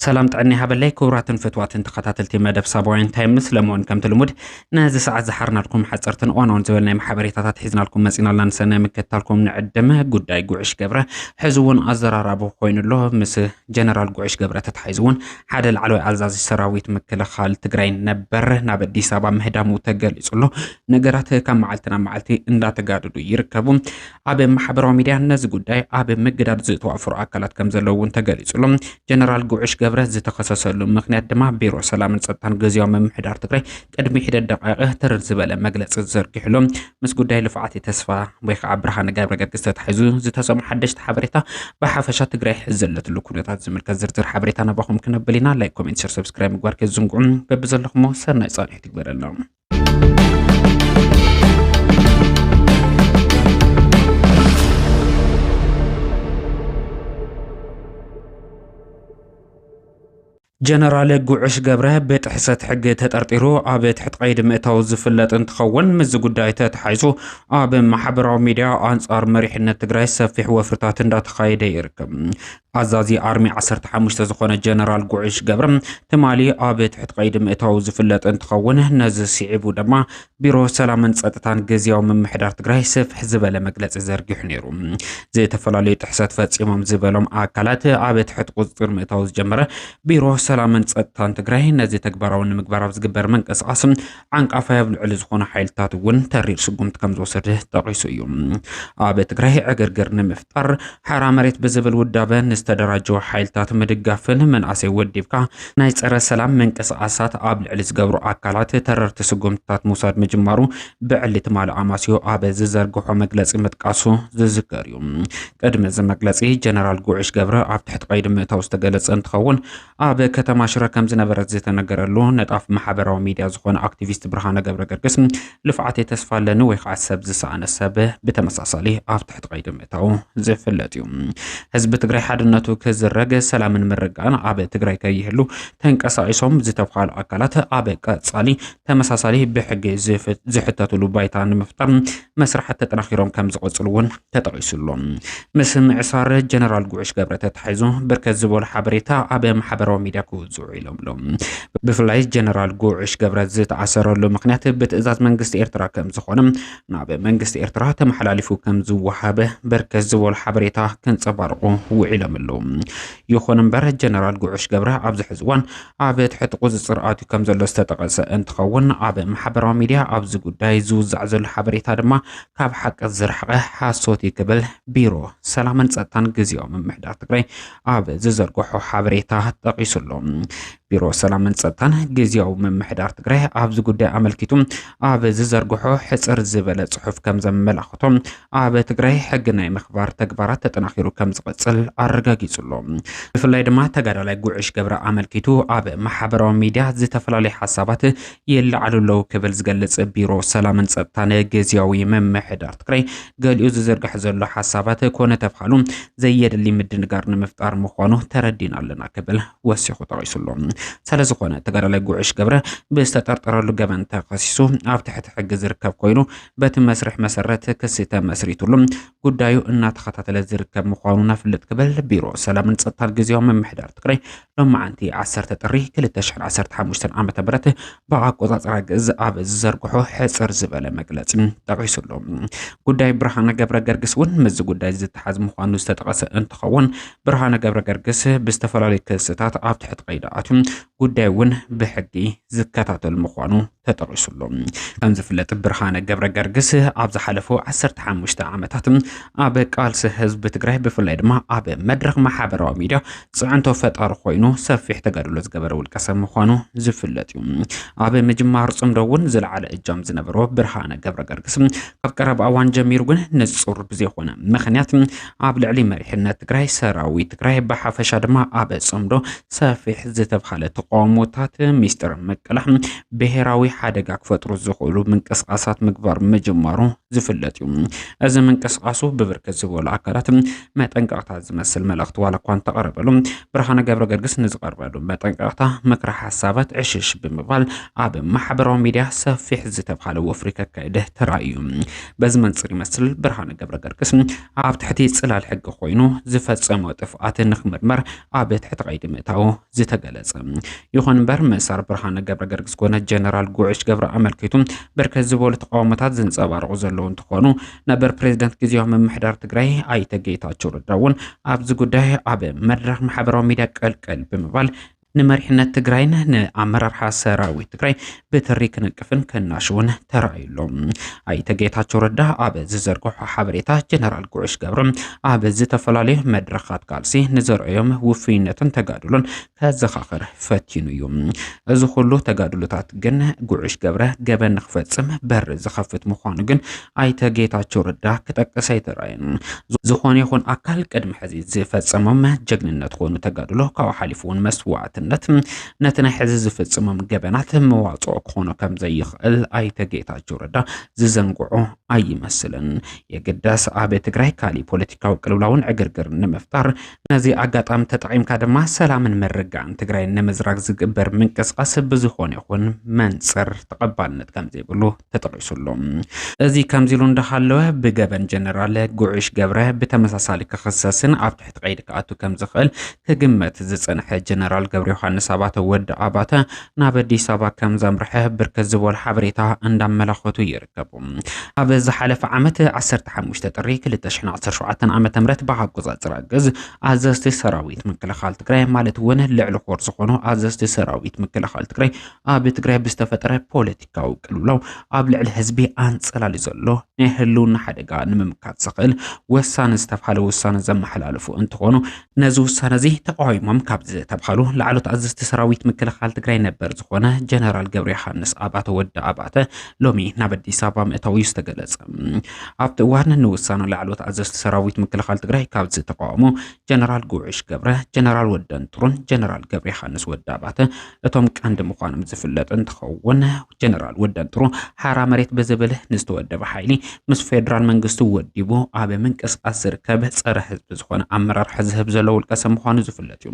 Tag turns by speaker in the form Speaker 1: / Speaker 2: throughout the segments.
Speaker 1: ሰላም ጥዕና ሃበለይ ክቡራትን ፍትዋትን ተኸታተልቲ መደብ ሳባውያን ታይም ምስ ለመውን ከምቲ ልሙድ ነዚ ሰዓት ዝሓርናልኩም ሓፀርትን እዋናውን ዝበል ናይ ማሕበሬታታት ሒዝናልኩም መፂናልና ንሰናይ ምክትታልኩም ንዕድመ ጉዳይ ጉዕሽ ገብረ ሕዚ እውን ኣዘራራቢ ኮይኑ ኣሎ ምስ ጀነራል ጉዕሽ ገብረ ተታሒዙ እውን ሓደ ላዕለዋይ ኣዛዚ ሰራዊት ምክልኻል ትግራይ ነበር ናብ ኣዲስ ኣበባ ምህዳሙ ተገሊጹ ኣሎ። ነገራት ካብ መዓልቲ ናብ መዓልቲ እንዳተጋደዱ ይርከቡ። ኣብ ማሕበራዊ ሚድያ ነዚ ጉዳይ ኣብ ምግዳድ ዝተዋፈሩ ኣካላት ከም ዘለዉ እውን ተገሊጹ ኣሎ። ጀነራል ጉዕሽ ገብረ ዝተኸሰሰሉ ምክንያት ድማ ቢሮ ሰላምን ጸጥታን ግዝያዊ ምምሕዳር ትግራይ ቅድሚ ሒደት ደቓይቕ ትርር ዝበለ መግለጺ ዝዘርጊሕሉ ምስ ጉዳይ ልፍዓት ተስፋ ወይ ከዓ ብርሃነ ገብረገርግስ ተታሒዙ ዝተሰሙ ሓደሽቲ ሓበሬታ ብሓፈሻ ትግራይ ሕዚ ዘለትሉ ኩነታት ዝምልከት ዝርዝር ሓበሬታ ናባኹም ክነብል ኢና። ላይክ፣ ኮሜንት፣ ሸር፣ ሰብስክራይብ ምግባር ከይትዝንግዑ። በብዘለኹሞ ሰናይ ጻንሒት ይግበረልና። ጀነራል ጉዑሽ ገብረ ብጥሕሰት ሕጊ ተጠርጢሩ ኣብ ትሕቲ ቀይዲ ምእታው ዝፍለጥ እንትኸውን ምስዚ ጉዳይ ተተሓይዙ ኣብ ማሕበራዊ ሚዲያ ኣንጻር መሪሕነት ትግራይ ሰፊሕ ወፍርታት እንዳተኻየደ ይርከብ። ኣዛዚ ኣርሚ 15 ዝኾነ ጀነራል ጉዕሽ ገብረ ትማሊ ኣብ ትሕቲ ቀይዲ ምእታው ዝፍለጥ እንትኸውን ነዚ ስዒቡ ድማ ቢሮ ሰላምን ጸጥታን ግዝያዊ ምምሕዳር ትግራይ ስፍሕ ዝበለ መግለጺ ዘርጊሑ ነይሩ። ዝተፈላለዩ ጥሕሰት ፈጺሞም ዝበሎም ኣካላት ኣብ ትሕቲ ቁፅፅር ምእታው ዝጀመረ ቢሮ ሰላምን ጸጥታን ትግራይ ነዚ ተግባራዊ ንምግባር ኣብ ዝግበር ምንቅስቓስ ዓንቃፋይ ኣብ ልዕሊ ዝኾኑ ሓይልታት እውን ተሪር ስጉምቲ ከም ዝወሰደ ጠቒሱ እዩ። ኣብ ትግራይ ዕግርግር ንምፍጣር ሓራ መሬት ብዝብል ውዳበ ንዝተደራጀው ሓይልታት ምድጋፍን መናእሰይ ወዲብካ ናይ ጸረ ሰላም ምንቅስቓሳት ኣብ ልዕሊ ዝገብሩ ኣካላት ተረርቲ ስጉምትታት ምውሳድ ምጅማሩ ብዕሊ ትማሊ ኣማስዮ ኣብ ዝዘርግሖ መግለጺ ምጥቃሱ ዝዝከር እዩ። ቅድሚ እዚ መግለጺ ጀነራል ጉዕሽ ገብረ ኣብ ትሕቲ ቀይዲ ምእታው ዝተገለጸ እንትኸውን ኣብ ከተማ ሽረ ከም ዝነበረ ዝተነገረሉ ነጣፍ ማሕበራዊ ሚዲያ ዝኾነ ኣክቲቪስት ብርሃነ ገብረ ገርግስ ልፍዓተይ ተስፋ ኣለኒ ወይ ከዓ ሰብ ዝሰኣነ ሰብ ብተመሳሳሊ ኣብ ትሕቲ ቀይዲ ምእታው ዝፍለጥ እዩ። ህዝቢ ትግራይ ሓድነቱ ክዝረግ፣ ሰላምን ምርግጋእን ኣብ ትግራይ ከይህሉ ተንቀሳቂሶም ዝተብሃሉ ኣካላት ኣብ ቀፃሊ ተመሳሳሊ ብሕጊ ዝሕተትሉ ባይታ ንምፍጣር መስራሓት ተጠናኺሮም ከምዝቐፅሉ እውን ተጠቒሱ ኣሎ። ምስ ምዕሳር ጀነራል ጉዕሽ ገብረ ተታሒዙ ብርከት ዝበሉ ሓበሬታ ኣብ ማሕበራዊ ሚድያ ክውፅዑ ኢሎም ኣሎ። ብፍላይ ጀነራል ጉዕሽ ገብረ ዝተኣሰረሉ ምክንያት ብትእዛዝ መንግስቲ ኤርትራ ከም ዝኾነ ናብ መንግስቲ ኤርትራ ተመሓላሊፉ ከም ዝወሃበ ብርከት ዝበሉ ሓበሬታ ከንፀባርቑ ውዒሎም ኣለዉ። ይኹን እምበር ጀነራል ጉዕሽ ገብረ ኣብዚ ሕዚ እዋን ኣብ ትሕቲ ቁፅፅር ኣትዩ ከም ዘሎ ዝተጠቐሰ እንትኸውን ኣብ ማሕበራዊ ሚድያ ኣብዚ ጉዳይ ዝውዛዕ ዘሎ ሓበሬታ ድማ ካብ ሓቂ ዝረሓቐ ሓሶት እዩ ክብል ቢሮ ሰላምን ጸጥታን ግዜያዊ ምምሕዳር ትግራይ ኣብ ዝዘርግሖ ሓበሬታ ጠቒሱ ኣሎ። ቢሮ ሰላምን ጸጥታን ግዜያዊ ምምሕዳር ትግራይ ኣብዚ ጉዳይ ኣመልኪቱ ኣብ ዝዘርግሖ ሕጽር ዝበለ ጽሑፍ ከም ዘመላኽቶ ኣብ ትግራይ ሕጊ ናይ ምኽባር ተግባራት ተጠናኺሩ ከም ዝቕጽል ኣረጋጊጹ ኣሎ። ብፍላይ ድማ ተጋዳላይ ጉዕሽ ገብረ ኣመልኪቱ ኣብ ማሕበራዊ ሚድያ ዝተፈላለዩ ሓሳባት ይለዓሉ ኣለዉ ክብል ዝገልጽ ቢሮ ሰላምን ጸጥታን ግዝያዊ ምምሕዳር ትግራይ ገሊኡ ዝዝርግሐ ዘሎ ሓሳባት ኮነ ተብሃሉ ዘየድሊ ምድንጋር ንምፍጣር ምዃኑ ተረዲና ኣለና ክብል ወሲኹ ጠቒሱ ኣሎ። ስለዝኾነ ተጋዳላይ ጉዕሽ ገብረ ብዝተጠርጠረሉ ገበን ተኸሲሱ ኣብ ትሕቲ ሕጊ ዝርከብ ኮይኑ በቲ መስርሕ መሰረት ክሲ ተመስሪቱሉ ጉዳዩ እናተኸታተለ ዝርከብ ምዃኑ ነፍልጥ ክብል ቢሮ ሰላምን ጸጥታን ግዝያዊ ምምሕዳር ትግራይ ሎማዓንቲ ዓሰርተ ጥሪ ክልተ ሽሕን ዓሰርተ ሓሙሽተን ዓመተ ምህረት ብኣቆጻጽራ ግእዝ ኣብ ዝዘርግሖ ሕጽር ዝበለ መግለጺ ጠቒሱ ኣሎ። ጉዳይ ብርሃነ ገብረ ገርግስ እውን ምስዚ ጉዳይ ዝተሓዝ ምዃኑ ዝተጠቐሰ እንትኸውን ብርሃነ ገብረ ገርግስ ብዝተፈላለዩ ክስታት ኣብ ትሕቲ ቀይዲ ኣትዩ ጉዳዩ እውን ብሕጊ ዝከታተል ምዃኑ ተጠቒሱሉ። ከም ዝፍለጥ ብርሃነ ገብረ ገርግስ ኣብ ዝሓለፉ 15 ዓመታት ኣብ ቃልሲ ህዝቢ ትግራይ ብፍላይ ድማ ኣብ መድረኽ ማሕበራዊ ሚድያ ፅዕንቶ ፈጣሪ ኮይኑ ሰፊሕ ተጋድሎ ዝገበረ ውልቀ ሰብ ምዃኑ ዝፍለጥ እዩ። ኣብ ምጅማር ፅምዶ እውን ዝለዓለ እጃም ዝነበሮ ብርሃነ ገብረ ገርግስ ካብ ቀረባ እዋን ጀሚሩ ግን ንፁር ብዘይኮነ ምክንያት ኣብ ልዕሊ መሪሕነት ትግራይ፣ ሰራዊት ትግራይ ብሓፈሻ ድማ ኣብ ጽምዶ ሰፊሕ ዝተብሃለ ተቃውሞታት ሚስጥር ምቅላሕ ብሄራዊ ሓደጋ ክፈጥሩ ዝኽእሉ ምንቅስቓሳት ምግባር ምጅማሩ ዝፍለጥ እዩ። እዚ ምንቅስቓሱ ብብርክት ዝበሉ ኣካላት መጠንቀቕታ ዝመስል መልእኽቲ ዋላ እኳ እንተቐረበሉ ብርሃነ ገብረ ገርግስ ንዝቐርበሉ መጠንቀቕታ ምክረ ሓሳባት ዕሽሽ ብምባል ኣብ ማሕበራዊ ሚዲያ ሰፊሕ ዝተብሃለ ወፍሪ ከካይደ ተራእዩ። በዚ መንጽር ይመስል ብርሃነ ገብረ ገርግስ ኣብ ትሕቲ ጽላል ሕጊ ኮይኑ ዝፈጸሞ ጥፍኣት ንክምርመር ኣብ ትሕቲ ቀይዲ ምእታው ዝተገለጸ ይኹን እምበር ምእሳር ብርሃነ ገብረ ገርግስ ኮነ ጀነራል ጉዕሽ ገብረ ኣመልኪቱ ብርክት ዝበሉ ተቃውሞታት ዝንጸባረቑ ዘለዉ እንትኾኑ ነበር ፕሬዚደንት ግዜያዊ ምምሕዳር ትግራይ ኣይተ ጌታቸው ረዳ እውን ኣብዚ ጉዳይ ኣብ መድረኽ ማሕበራዊ ሚዲያ ቀልቀል ብምባል ንመሪሕነት ትግራይን ንኣመራርሓ ሰራዊት ትግራይ ብትሪ ክንቅፍን ከናሽውን ተራእዩሎ ኣይተ ጌታቸው ረዳ ኣብ ዝዘርግሖ ሓበሬታ ጀነራል ጉዑሽ ገብረ ኣብ ዝተፈላለዩ መድረኻት ቃልሲ ንዘርአዮም ውፍይነትን ተጋድሎን ከዘኻኽር ፈቲኑ እዩ። እዚ ኩሉ ተጋድሎታት ግን ጉዑሽ ገብረ ገበን ንክፈጽም በር ዝኸፍት ምዃኑ ግን ኣይተ ጌታቸው ረዳ ክጠቅስ ኣይተራእየን። ዝኾነ ይኹን ኣካል ቅድሚ ሕዚ ዝፈጸሞም ጀግንነት ኮኑ ተጋድሎ ካብኡ ሓሊፉ እውን መስዋዕትነት ነቲ ናይ ሕዚ ዝፍጽሞም ገበናት መዋጽኦ ክኾኖ ከም ዘይኽእል ኣይተ ጌታቸው ረዳ ዝዘንግዖ ኣይመስልን። የግዳስ ኣብ ትግራይ ካሊእ ፖለቲካዊ ቅልውላውን ዕግርግር ንምፍጣር ነዚ ኣጋጣሚ ተጠቒምካ ድማ ሰላምን ምርጋእን ትግራይ ንምዝራግ ዝግበር ምንቅስቓስ ብዝኾነ ይኹን መንፅር ተቐባልነት ከም ዘይብሉ ተጠቒሱሉ። እዚ ከምዚሉ እንዳሃለወ ብገበን ጀነራል ጉዕሽ ገብረ ብተመሳሳሊ ክኽሰስን ኣብ ትሕቲ ቀይዲ ክኣቱ ከም ዝኽእል ክግመት ዝጸንሐ ጀነራል ገብረ ዮሃንስ ኣባተ ወዲ ኣባተ ናብ ኣዲስ ኣበባ ከም ዘምርሐ ብርክት ዝበሉ ሓበሬታ እንዳመላኸቱ ይርከቡ። ኣብ ዝሓለፈ ዓመት 15 ጥሪ 2017 ዓ.ም ብኣቆጻጽራ ግዝ ኣዘዝቲ ሰራዊት ምክልኻል ትግራይ ማለት እውን ልዕሊ ኮር ዝኾኑ ኣዘዝቲ ሰራዊት ምክልኻል ትግራይ ኣብ ትግራይ ብዝተፈጠረ ፖለቲ ፖለቲካዊ ቅልውላው ኣብ ልዕሊ ህዝቢ ኣንጸላልዩ ዘሎ ናይ ህልውና ሓደጋ ንምምካት ዘኽእል ወሳኒ ዝተብሃለ ውሳነ ዘመሓላለፉ እንትኾኑ ነዚ ውሳነ እዚ ተቃዊሞም ካብ ዝተብሃሉ ላዕሎት ኣዘዝቲ ሰራዊት ምክልኻል ትግራይ ነበር ዝኾነ ጀነራል ገብረ ዮሃንስ ኣባተ ወዲ ኣባተ ሎሚ ናብ ኣዲስ ኣበባ ምእታው እዩ ዝተገለጸ። ኣብቲ እዋን ንውሳነ ላዕሎት ኣዘዝቲ ሰራዊት ምክልኻል ትግራይ ካብ ዝተቃወሙ ጀነራል ጉዕሽ ገብረ፣ ጀነራል ወደንጥሩን ጀነራል ገብረ ዮሃንስ ወዲ ኣባተ እቶም ቀንዲ ምዃኖም ዝፍለጥ እንትኸውን ጀነራል ወደንትሩ ሓራ መሬት ብዝብል ንዝተወደበ ሓይሊ ምስ ፌዴራል መንግስቲ ወዲቡ ኣብ ምንቅስቃስ ዝርከብ ፀረ ህዝቢ ዝኾነ ኣመራርሓ ዝህብ ዘሎ ውልቀ ሰብ ምዃኑ ዝፍለጥ እዩ።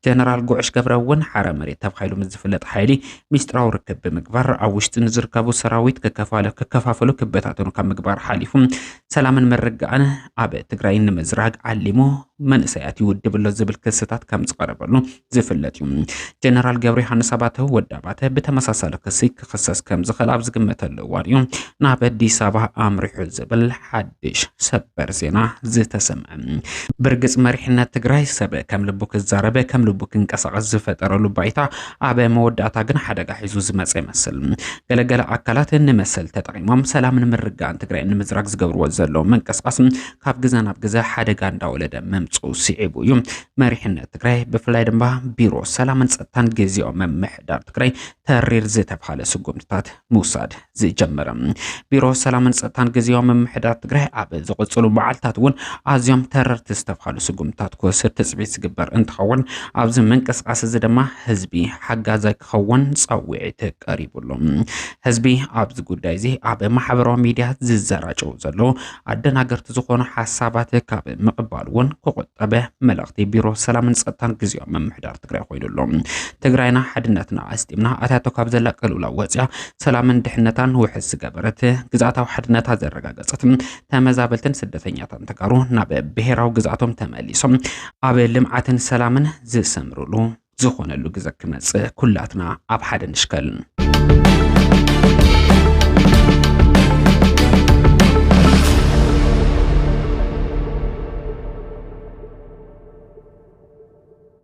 Speaker 1: ጀነራል ጉዕሽ ገብረ እውን ሓራ መሬት ተባሂሉ ምስ ዝፍለጥ ሓይሊ ሚስጥራዊ ርክብ ብምግባር ኣብ ውሽጢ ንዝርከቡ ሰራዊት ክከፋፈሉ ክበታተኑ ካብ ምግባር ሓሊፉ ሰላምን ምርግኣን ኣብ ትግራይ ንምዝራግ ዓሊሙ መንእሰያት ይውድብ ኣሎ ዝብል ክስታት ከም ዝቐረበሉ ዝፍለጥ እዩ። ጀነራል ገብረዮሃንስ ኣባተ ወዲ ኣባተ ብተመሳሳሊ ክሲ ክኽሰስ ከም ዝኽእል ኣብ ዝግመተሉ እዋን እዩ ናብ ኣዲስ ኣበባ ኣምሪሑ ዝብል ሓድሽ ሰበር ዜና ዝተሰምዐ። ብርግጽ መሪሕነት ትግራይ ሰብ ከም ልቡ ክዛረበ ከም ልቡ ክንቀሳቐስ ዝፈጠረሉ ባይታ ኣብ መወዳእታ ግን ሓደጋ ሒዙ ዝመፀ ይመስል። ገለገለ ኣካላት ንመሰል ተጠቒሞም ሰላምን ምርጋእን ትግራይ ንምዝራግ ዝገብርዎ ዘለዉ ምንቅስቓስ ካብ ግዘ ናብ ግዘ ሓደጋ እንዳወለደ ምምፅኡ ስዒቡ እዩ መሪሕነት ትግራይ ብፍላይ ድማ ቢሮ ሰላምን ጸጥታን ግዜያዊ ምምሕዳር ትግራይ ተሪር ዝተብሃለ ስጉምትታት ምውሳድ ዝጀመረ ቢሮ ሰላምን ጸጥታን ግዜያዊ ምምሕዳር ትግራይ ኣብ ዝቕጽሉ መዓልትታት እውን ኣዝዮም ተረርቲ ዝተብሃሉ ስጉምትታት ክወስድ ትጽቢት ዝግበር እንትኸውን ኣብዚ ምንቅስቓስ እዚ ድማ ህዝቢ ሓጋዛይ ክኸውን ጻውዒት ቀሪቡሉ። ህዝቢ ኣብዚ ጉዳይ እዚ ኣብ ማሕበራዊ ሚድያት ዝዘራጨው ዘሎ ኣደናገርቲ ዝኾኑ ሓሳባት ካብ ምቕባል እውን ክቑጠበ መልእኽቲ ቢሮ ሰላምን ጸጥታን ግዜያዊ ምምሕዳር ትግራይ ኮይኑ ኣሎ። ትግራይና ሓድነትና ኣስጢምና ኣታቶ ካብ ዘላ ቅልውላ ወፅያ ሰላምን ድሕነታን ውሕስ ዝገበረት ግዝኣታዊ ሓድነታ ዘረጋገፀት ተመዛበልትን ስደተኛታን ተጋሩ ናብ ብሔራዊ ግዝኣቶም ተመሊሶም ኣብ ልምዓትን ሰላምን ዝሰምርሉ ዝኾነሉ ግዘ ክመፅእ ኩላትና ኣብ ሓደ ንሽከል።